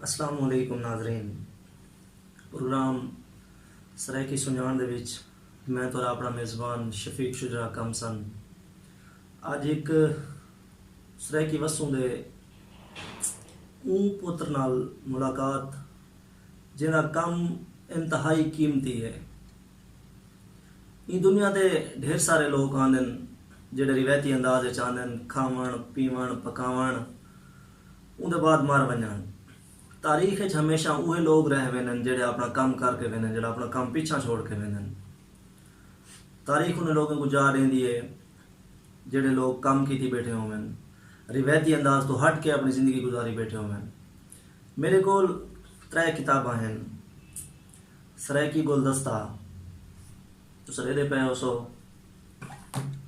السلام علیکم ناظرین پروگرام سرائیکی سنجان دے وچ میں تہاڈا اپنا میزبان شفیق شجرا کم سن اج ہک سرائیکی وسوں دے اوں پتر نال ملاقات جیندا کم انتہائی قیمتی ہے ایں دنیا تے ڈھیر سارے لوک آندن جیڑھے روایتی انداز وچ آندن کھاون پیون پکاون اوندے بعد مر ونجن۔ تاریخ اچ ہمیشاں اوہے لوگ رہ ویندن جیہڑے اپنا کم کر کے ویندن جیہڑا اپنا کم پچھاں چھوڑ کے ویندن۔ تاریخ انہیں لوگیں کوں جاہ ڈیندی ہے جیہڑے لوگ کم کیتی بیٹھے ہوون۔ روایتی انداز توں ہٹ کے اپنی زندگی گزاری بیٹھے ہوون۔ میڈے کول ترے کتاباں ہن۔ سرائیکی گلدستہ تساں ڈیدھے پئے ہوسو۔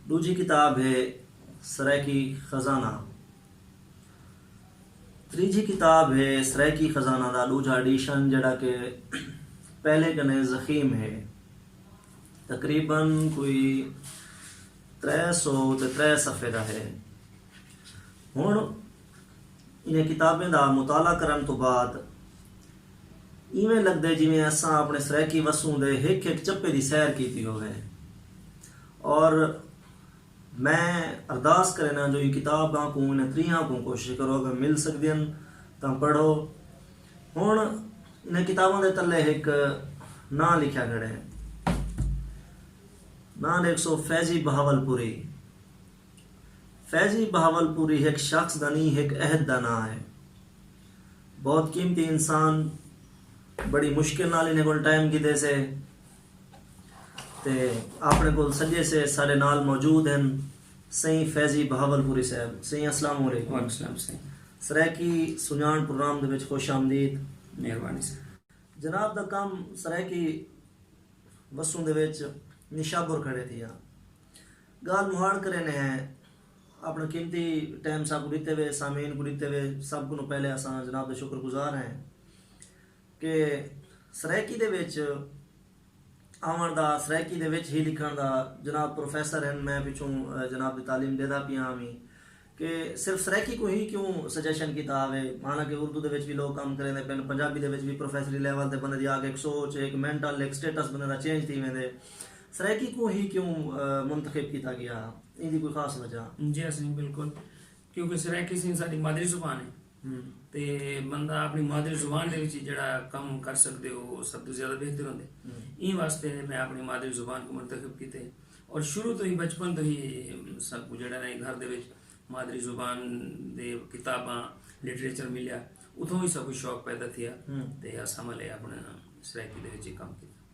ڈوجھی کتاب ہے سرائیکی خزانہ۔ تریجھی کتاب ہے سرائیکی خزانہ دا ڈوجھا ایڈیشن جیڑھا کہ پہلے کنے زخیم ہے۔ تقریبا کوئی ترے سو تے ترے صفحے دا ہے۔ ہن انہاں کتابیں دا مطالعہ کرن توں بعد ایویں لگدے جیویں اساں اپنے سرائیکی وسوں دے ہک ہک چپے دی سیر کیتی ہووے اور میں ارداس کرینداں جو ایں کتاب آں کوں انہاں تریہاں آں کوں کوشش کرو اگر مل سگدین تاں پڑھو۔ ہنڑ انہاں کتاباں دے تلے ہک ناں لکھیا گھڑے۔ ناں ڈیکھسو فیضی بہاول پوری۔ فیضی بہاول پوری ہک شخص دا نیں ہک عہد دا ناں ہے۔ بہت قیمتی انسان بڑی مشکل نال انہاں کول ٹائم گھدے سے۔ تے آپنڑے کول سجے سے ساڈے نال موجود ہن سئیں فیضی بہاولپوری صاحب سئیں اسلام علیکم وعلیکم السلام سئیں سرائیکی سنجاݨ پروگرام دے وچ خوش آمدید مہربانی سئیں۔ جناب دا کم سرائیکی وسوں دے وچ نشابر کھڑے تھیا گالھ مہاڑ کرینے ہیں آپنڑا قیمتی ٹائم ساکوں ڈتے وے سامعین کوں ڈتے وے سب کنوں پہلے اساں جناب دے شکر گزار ہیں۔ کہ سرائیکی دے وچ آوݨ دا سرائیکی دے وچ ہی لکھݨ دا جناب پروفیسر ہن میں پچھوں جناب دی تعلیم ݙیدا پیاں وی کہ صرف سرائیکی کوں ہی کیوں سجیشن کیتا آوے مانا کہ اردو دے وچ وی لوک کم کریندے پن پنجابی دے وچ وی پروفیسری لیول تے بندے دی آکھ ہک سوچ ہک مینٹل ہک سٹیٹس بندے دا چینج تھی ویندے سرائیکی کوں ہی کیوں منتخب کیتا ڳیا ایندی کوئی خاص وجہ؟ جی اسلم بالکل کیونکہ سرائیکی سندھ ساڈی مادری زبان ہے تے بندہ اپݨی مادری زبان دے وچ جیہڑا کم کر سڳدے او سب توں زیادہ بہتر ہوندے ایں واسطے میں اپݨی مادری زبان کوں منتخب کیتے اور شروع توں ہی بچپن توں ہی ساکوں جیہڑا ہے گھر دے وچ مادری زبان دے کتاباں لٹریچر ملیا اتھوں ہی ساکوں شوق پیدا تھیا تے اساں ولے اپݨے سرائیکی دے وچ کم کیتا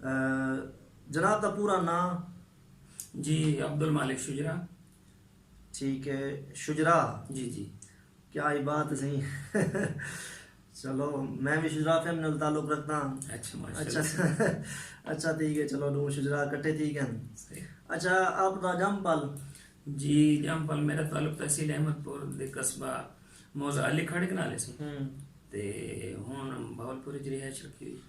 جناب دا پورا ناں؟ جی عبدالمالک شجرا۔ ٹھیک ہے شجرا؟ جی جی۔ کیا ہی بات ہے چلو میں بھی شجرا فیملی نال تعلق رکھتا ہاں اچھا ماشاءاللہ اچھا ٹھیک ہے چلو دو شجرا کٹھے ٹھیک ہیں اچھا آپ دا جم پل جی جم پل میرا تعلق تحصیل احمد پور دے قصبہ موزہ علی کھڑک نالے سے تے ہن بہت پوری رہائش رکھی ہوئی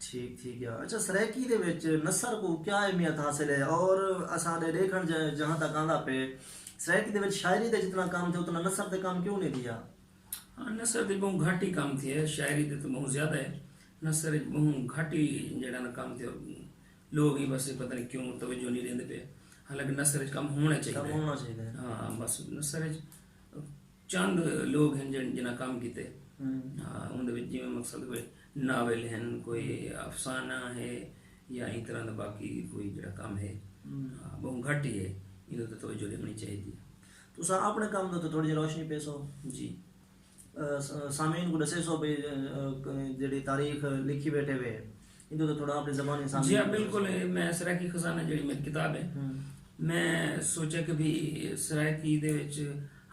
ٹھیک ٹھیک ہے اچھا سرائیکی دے وچ نثر کو کیا اہمیت حاصل ہے اور اساں دے دیکھن جہاں تک آندا پے سرائیکی دے وچ شاعری دے جتنا کام تھے اتنا نثر دے کام کیوں نہیں دیا ہاں نثر دے بہوں گھٹ ہی کام تھے شاعری دے تو بہوں زیادہ ہے نثر دے بہوں گھٹ ہی جڑا نا کام تھے لوگ ہی بس پتہ نہیں کیوں توجہ نہیں دیندے پے حالانکہ نثر دے کام ہونا چاہیے کام ہونا چاہیے ہاں بس نثر دے چند لوگ ہن جنہاں کم کیتے ان دے وچ جویں مقصد کوئی ناول ہن کوئی افسانہ ہے یا ایں طرح دا باقی کوئی جڑا کم ہے بہوں گھٹ ہی ہے انہاں تے توجہ ڈیونی چاہیدی ہے تساں اپنے کم دے تے تھوڑی جی روشنی پیسو جی سامعین کو ڈسیسو بھئی جیڑی تاریخ لکھی بیٹھے ہوئے جی ہاں بالکل ہے میں سرائیکی خزانہ جڑی میری کتاب ہے میں سوچا کہ بھی سرائیکی دے وچ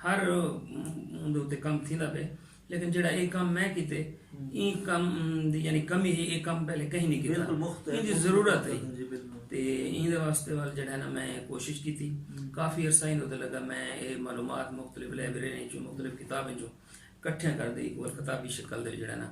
ہر اندھے اتے کم تھی دا پہ لیکن جڑا ایک کم میں کیتے این کم دی یعنی کمی ہے ایک کم پہلے کہیں نہیں کیتا این دی ضرورت ہے جی، تے این دے واسطے وال جڑا ہے نا میں کوشش کیتی کافی عرصہ این دے لگا میں اے معلومات مختلف لیبرے ہیں جو مختلف کتابیں جو کٹھے کر دے ایک کتابی شکل دے جڑا ہے نا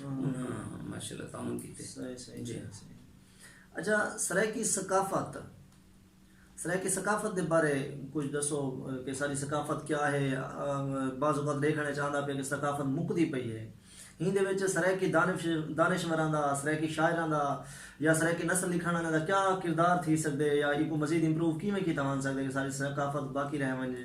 ماشاء اللہ تعاون کیتے صحیح صحیح جی اچھا سرائیکی ثقافت سرائیکی ثقافت دے بارے کچھ دسو کہ ساری ثقافت کیا ہے بعض اوقات دیکھنے چاہتا پہ کہ ثقافت مکدی پئی ہے ہین دے وچ سرائیکی دانش دانشوراں دا سرائیکی شاعراں دا یا سرائیکی نسل لکھن والے دا کیا کردار تھی سکدے یا ایکو مزید امپروو کیویں کیتا ون سکدے کہ ساری ثقافت باقی رہ ونجے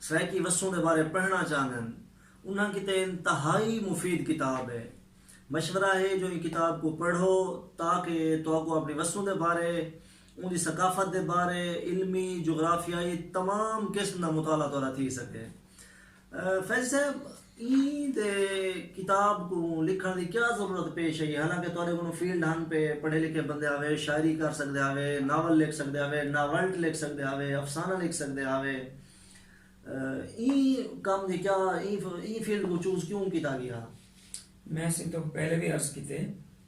سرائیکی وسوں دے بارے پڑھݨا چاہندن انہاں کیتے انتہائی مفید کتاب ہے۔ مشورہ ہے جو ایں کتاب کوں پڑھو تاکہ تہاکوں اپݨی وسوں دے بارے، اوندی ثقافت دے بارے علمی، جغرافیائی تمام قسم دا مطالعہ تہاݙا تھی سڳے۔ فیضی صاحب! ایں تے کتاب کوں لکھݨ دی کیا ضرورت پیش آئی ہے حالانکہ تہاݙے کولوں فیلڈ ہن پئے، پڑھے لکھے بندے ہاوے، شاعری کر سڳدے ہاوے، ناول لکھ سڳدے ہاوے، ناولٹ لکھ سڳدے ہاوے، افسانہ لکھ سڳدے ہاوے۔ ایں کم دی کیا ایں فیلڈ کوں چوز کیوں کیتا ڳیا؟ میں سیتوں پہلے وی عرض کیتے۔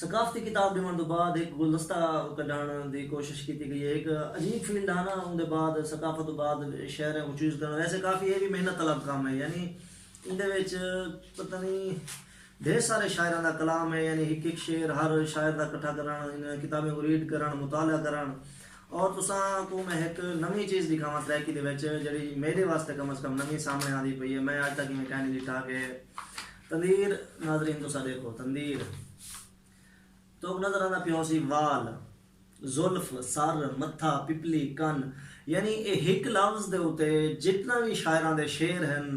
ثقافتی کتاب ڈیونڑ توں بعد ہک گلدستہ کڈھنڑ دی کوشش کیتی گئی ہے۔ ہک عجیب فیلڈ ہا نا اوندے بعد ثقافت توں بعد شعریں کوں چوز کرنڑ ویسے کافی اے وی محنت طلب کم ہے یعنی ایندے وچ پتہ نی ڈھیر سارے شاعراں دا کلام ہے یعنی ہک ہک شعر ہر شاعر دا کٹھا کرنڑ انہاں کتابیں کوں ریڈ کرنڑ مطالعہ کرنڑ اور تساں کوں میں ہک نویں چیز ڈکھاواں سرائیکی دے وچ جیہڑی میڈے واسطے کم از کم نویں سامنڑے آندی پئی ہے میں اج تک ایویں کائنی ڈٹھا کہ تندیر ناظرین تساں ڈیکھو تندیر توک نظر آندا پیا ہوسی وال زلف سر متھا پپلی کن یعنی اے ہک لفظ دے اتے جتنا وی شاعراں دے شعر ہن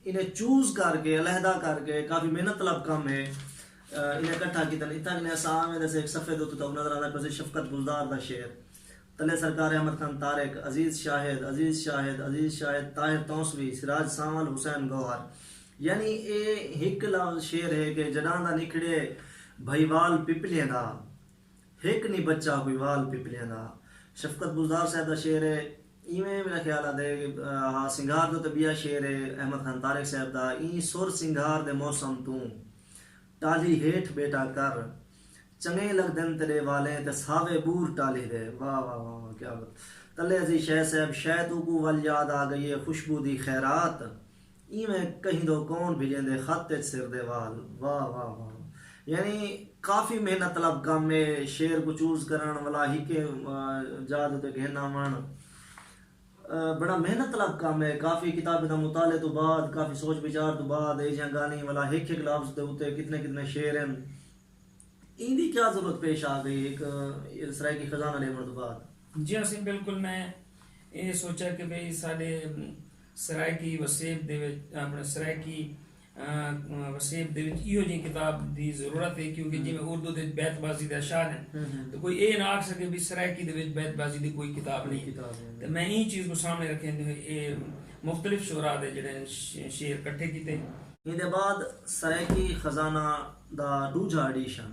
انہیں چوز کر کے علیحدہ کر کے کافی محنت طلب کم ہے انہیں کٹھا کیتن اتھاں کنے اساں آویں دے ہک صفحے دے اتے توک نظر آندا پیا ہوسی شفقت گلزار دا شعر تلے سرکار احمد خان طارق عزیز شاہد عزیز شاہد عزیز شاہد طاہر تونسوی سراج سانول حسین گوہر یعنی اے ہک لفظ شعر ہے کہ جڈاں دا نکھڑے بھائیوال پپلیں دا ہک نی بچا کوئی وال پپلیں دا شفقت بزدار صاحب دا شعر ہے ایویں میرا خیال آ دے ہا سنگھار دو تے بیا شعر ہے احمد خان طارق صاحب دا ایں سر سنگھار دے موسم توں ٹالھی ہیٹھ بیٹا کر چنگیں لگدن تیڈے والیں تے ساوے بور ٹالھی دے واہ واہ واہ واہ کیا بات تلے عزیز شے صاحب شے توکوں ول یاد آ گئی ہے خوشبو دی خیرات ایویں کہیندو کون بھجیندے خط اچ سر دے وال واہ واہ واہ یعنی کافی محنت طلب کم اے شعر کوں چوز کرنڑ ولا ہکے جاہ دے اتے گھن آونڑ بڑا محنت طلب کم اے کافی کتابیں دا مطالعے توں بعد کافی سوچ وچار توں بعد اے جیاں گالھیں ولا ہک ہک لفظ دے اتے کتنے کتنے شعر ہن ایندی کیا ضرورت پیش آ گئی ہک سرائیکی خزانہ لیونڑ توں بعد۔ جی ہاں سئیں بالکل میں اے سوچیا کہ بھئی ساڈے سرائیکی وسیب دے وچ اپݨے سرائیکی وسیب دے وچ ایہو جئیں کتاب دی ضرورت ہے کیونکہ جیویں اردو دے وچ بیت بازی دے اشعار ہن تے کوئی ایہ نہ آکھ سکے بھئی سرائیکی دے وچ بیت بازی دی کوئی کتاب نئیں تے میں ایں چیز کوں سامݨے رکھیندے ہوئے ایہ مختلف شعراء دے جیڑھے شعر کٹھے کیتے۔ ایندے بعد سرائیکی خزانہ دا ݙوجھا ایڈیشن۔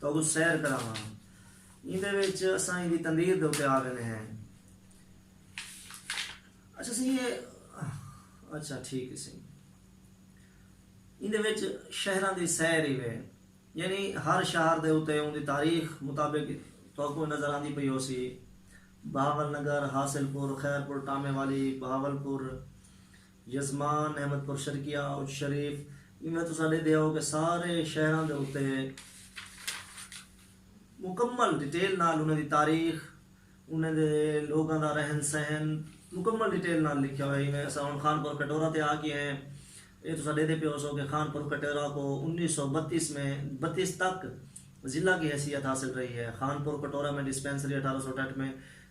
تہاکوں سیر کراواں۔ ایندے وچ اساں ایندی تندیر دے اتے آ ویندے ہیں۔ اچھا سئیں ایہ اچھا ٹھیک ہے سئیں۔ ایندے وچ شہراں دی سیر ای وے۔ یعنی ہر شہر دے اتے اوندی تاریخ مطابق تہاکوں نظر آندی پئی ہوسی۔ بہاول نگر، حاصل پور، خیر پور، ٹامے والی، بہاول پور، یزمان، احمد پور شرقیہ، اچ شریف وی میں تساں ڈیدھے ہاؤ کہ سارے شہراں دے اتے مکمل ڈیٹیل نال انہاں دی تاریخ انہاں دے لوگاں دا رہن سہن مکمل ڈیٹیل نال لکھیا ہویا ہی میں اساں ہن خان پور کٹورا تے آ کے ہیں اے تساں ڈیدھے پیو سو کہ خان پور کٹورا کو انیس سو بتیس میں بتیس تک ضلع کی حیثیت حاصل رہی ہے خان پور کٹورا میں ڈسپینسری اٹھارہ سو اٹھٹھ میں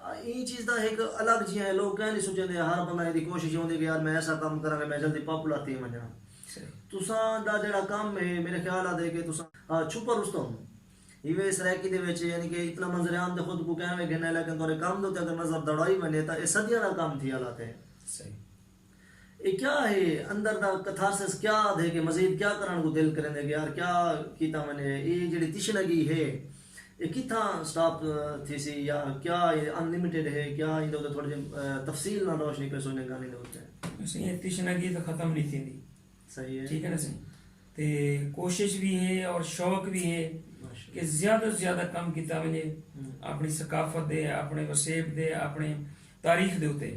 ایں چیز دا ہک الگ جیہاں ہے لوگ کہیں نہیں سوچیندے ہیں ہر بندہ ایندی کوشش ہوندی ہے کہ یار میں ایسا کم کراں کہ میں جلدی پاپولر تھی ونجاں تساں دا جیڑا کم ہے میرے خیال آتے کہ تساں چھپر رستم ہیوے سرائیکی دے وچ یعنی کہ اتنا منظر عام دے خود کو کہیں گھنے لیکن تورے کم دو تے اگر نظر دڑائی ونجے تا اے صدیاں دا کم تھی آلاتے ہیں اے کیا ہے اندر دا کتھارسس کیا دھے کے مزید کیا کرن کوں دل کریندے کے آر کیا کیتا ونجے اے جیڑی تشنگی ہے اے کتھاں سٹاپ تھیسی یا کیا اے ان لمیٹڈ ہے کیا ایندے اتے تھوڑے جے تفصیل نال روشنی پیسو انہیں گالیں دے اتے۔ سائیں اے تشنگی تاں ختم نی تھیندی صحیح ہے ٹھیک ہے نا سائیں تے کوشش وی ہے اور شوق وی ہے کہ زیادہ توں زیادہ کم کیتا ونجے اپنی ثقافت دے اپنے وسیب دے اپنے تاریخ دے اتے۔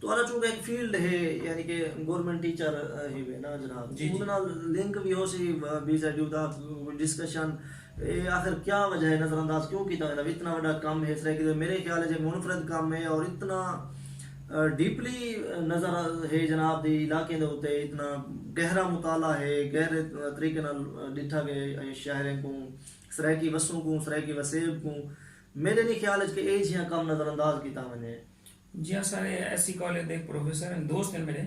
تہاڈا چونکہ ہک فیلڈ ہے یعنی کہ گورنمنٹ ٹیچر ہیوے نا جناب اوندے نال لنک وی ہوسی بی زیڈ یو دا کوئی ڈسکشن اے آخر کیا وجہ ہے نظر انداز کیوں کیتا ویندا وی اتنا وڈا کم ہے سرائیکی دا میرے خیال اچ اے منفرد کم ہے اور اتنا ڈیپلی نظر ہے جناب دی علاقیں دے اتے اتنا گہرا مطالعہ ہے گہرے طریقے نال ڈٹھا گئے اے شہریں کوں سرائیکی وسوں کوں سرائیکی وسیب کوں میڈے نی خیال اچ کہ اے جھیاں کم نظر انداز کیتا ونجے۔ جیہاں سارے ایس سی کالج دے پروفیسر ہیں دوست ہیں میرے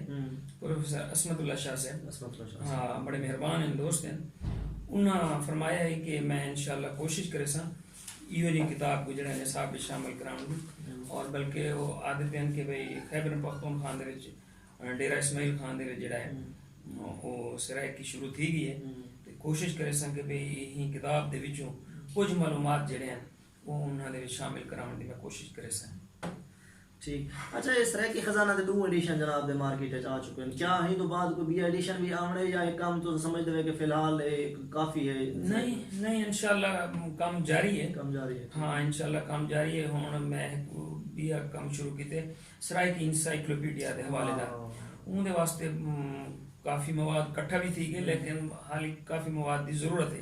پروفیسر عصمت اللہ شاہ صاحب بڑے مہربان ہیں دوست ہیں انہاں فرمایا ہے کہ میں انشاءاللہ کوشش کرے ساں ایو جی کتاب کو جڑا نصاب وچ شامل کراون دی اور بلکہ وہ آدھے پین کہ بھئی خیبر پختون خان دے وچ ڈیرہ اسماعیل خان دے وچ جڑا ہے وہ سرائیکی شروع تھی گئی ہے کوشش کرے ساں کہ بھئی ہی کتاب دے وچوں کچھ معلومات جڑے ہیں کوں انہاں دے وچ شامل کراوݨ دی میں کوشش کریساں۔ ٹھیک اچھا اے سرائیکی خزانہ دے ݙو ایڈیشن جناب دے مارکیٹ اچ آ چکن کیا ایں توں بعد کوئی ٻیا ایڈیشن وی آوݨے یا اے کم تساں سمجھدے وے کہ فی الحال اے کافی اے؟ نئیں نئیں انشاءاللہ کم جاری اے۔ کم جاری اے۔ ہاں انشاءاللہ کم جاری اے ہݨ میں ہک ٻیا کم شروع کیتے سرائیکی انسائیکلوپیڈیا دے حوالے دا اوں دے واسطے کافی مواد کٹھا وی تھی ڳئے لیکن حالی کافی مواد دی ضرورت اے۔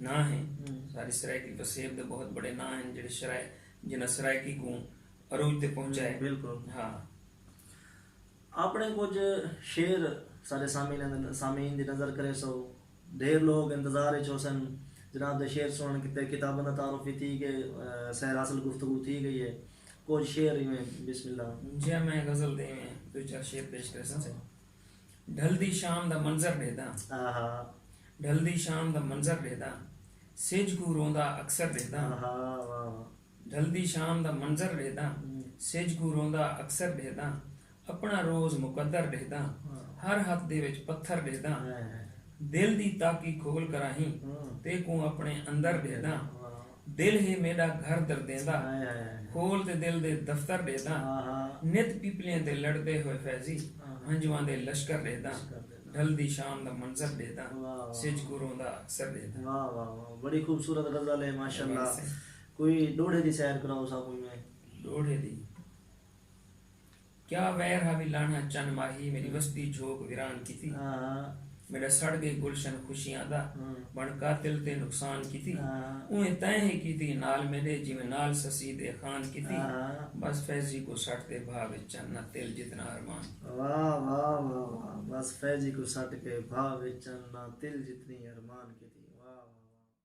ناں ہیں ساݙی سرائیکی پسیب دے بہت بڑے ناں ہیں جڑے شرائ جنہاں سرائیکی کوں عروج تے پہنچائے بالکل ہاں اپنے کچھ شعر ساڈے سامعین دی نظر کرے سو ڈھیر لوگ انتظار اچ ہوسن جناب دے شعر سنن کیتے کتاباں دا تعارف وی تھی گئے سیر حاصل گفتگو تھی گئی ہے کچھ شعر ایویں بسم اللہ جی میں غزل دے ایویں دو چار شعر پیش کرساں ڈھلدی شام دا منظر ڈیہداں ڈھلدی شام دا منظر ڈیہداں سجھ کوں روندا اکثر ڈیہداں ڈھلدی شام دا منظر ڈیہداں سجھ کوں روندا اکثر ڈیہداں اپنا روز مقدر ڈیہداں ہر ہتھ دے وچ پتھر ڈیہداں دل دی تاکی کھول کراہیں تیکوں اپنے اندر ڈیہداں دل ہے میݙا گھر دردیندا کھول تے دل دے دفتر ݙیہداں نت پیپلیاں تے لڑدے ہوئے فیضی ہنجواں دے لشکر ݙیہداں ڈھلدی شام دا منظر ݙیہداں سجھ کوں روندا اکثر ݙیہداں۔ واہ واہ واہ بڑی خوبصورت غزل ہے ماشاءاللہ کوئی ڈوہڑے دی سیر کراؤ ساکوں میں۔ ڈوہڑے دی۔ کیا ویر ہا وی لانہہ چن ماہی میݙی وستی جھوک ویران کیتی میݙا سڑ ڳئے گلشن خوشیاں دا بݨ قاتل تے نقصان کیتی اونویں تیں ہی کیتی نال میݙے جیویں نال سسی دے خان کیتی بس فیضی کوں سٹ دے بھا وچ چن نہ تل جتنا ارمان کیتی۔ واہ واہ واہ واہ بس فیضی کوں سٹ کے بھا وچ چن نہ تل جتنی ارمان کیتی واہ واہ واہ واہ۔